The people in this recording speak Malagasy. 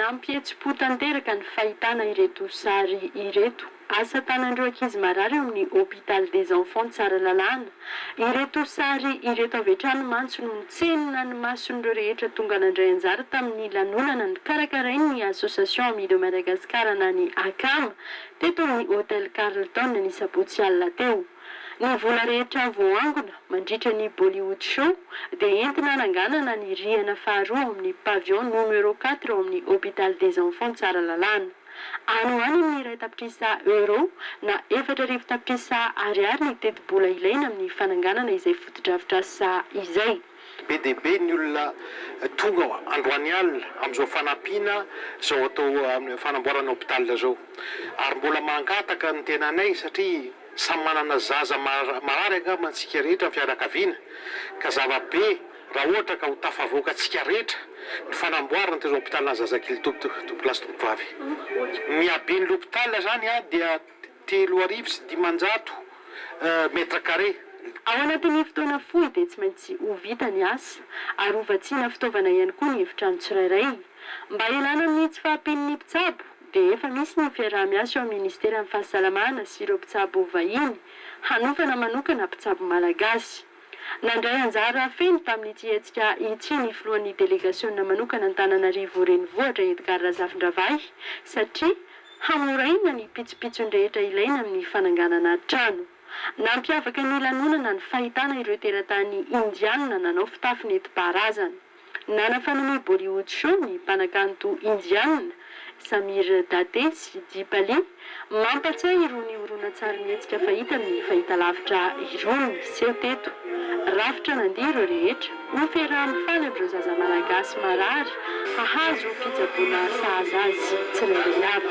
Nampihetsi-po tanteraka ny fahitana ireto sary ireto, asa tanan'ireo ankizy marary ao amin'ny Hôpital des Enfants Tsaralalàna. Ireto sary ireto avy hatrany mantsy no nitsenina ny mason'ireo rehetra tonga nandray anjara tamin'ny lanonana nikarakarain'ny Association Amis de Madagascar na ny Acam. teto amin'ny Hotel Carlton ny sabotsy alina teo. Ny vola rehetra voaangona mandritra ny Bollywood Show dia entina ananganana ny rihana faharoa ao amin'ny Pavillon Numero Quatre ao amin'ny Hopital des Enfants Tsaralalana. Any ho any amin'ny iray tapitrisa Euro na efatra arivo tapitrisa Ariary ny tetibola ilaina amin'ny fananganana izay fotodrafitrasa izay. Be dia be ny olona tonga androany alina amin'izao fanampiana izao atao amin'ny fanamboarana hôpital izao. Ary mbola mangataka ny tenanay satria samy manana zaza marary angamba antsika rehetra ny fianakaviana ka zava-be raha ohatra ka ho tafavoaka antsika rehetra ny fanamboarana ity hôpitalin'ny zazakely ity, Tompokolahy sy Tompokovavy. Ny haben'ny hôpital izany dia. telo arivo sy dimanjato mètres carrés. Ao anatin'ny fotoana fohy dia tsy maintsy ho vita ny asa ary ho vatsiana fitaovana ihany koa ny efitrano tsirairay. Mba hialana amin'ny tsy fahampian'ny mpitsabo dia efa misy ny fiaraha-miasa eo amin'ny Ministeran'ny Fahasalamana sy ireo mpitsabo vahiny hanofana manokana mpitsabo malagasy. Nandray anjara feno tamin'ity hetsika ity ny filohan'ny delegasionina manokana Antananarivo Renivohitra Edgard Razafindravahy satria hanoraina ny pitsopitsony rehetra ilaina amin'ny fananganana trano. Nampiavaka ny lanonana ny fahitana ireo teratany Indiana nanao fitafy nentim-paharazana. Nanafanan'ny Bollywood Show ny mpanakanto Indiana, Samir Date sy Deepali, mampatsiahy irony horonantsarimihetsika fahita amin'ny fahitalavitra irony, Seho teto, Rafitra nandihy ireo rehetra, ho ferahan'ny faly amin'ireo zaza malagasy marary hahazo fitsaboana sahaza azy tsirairay avy.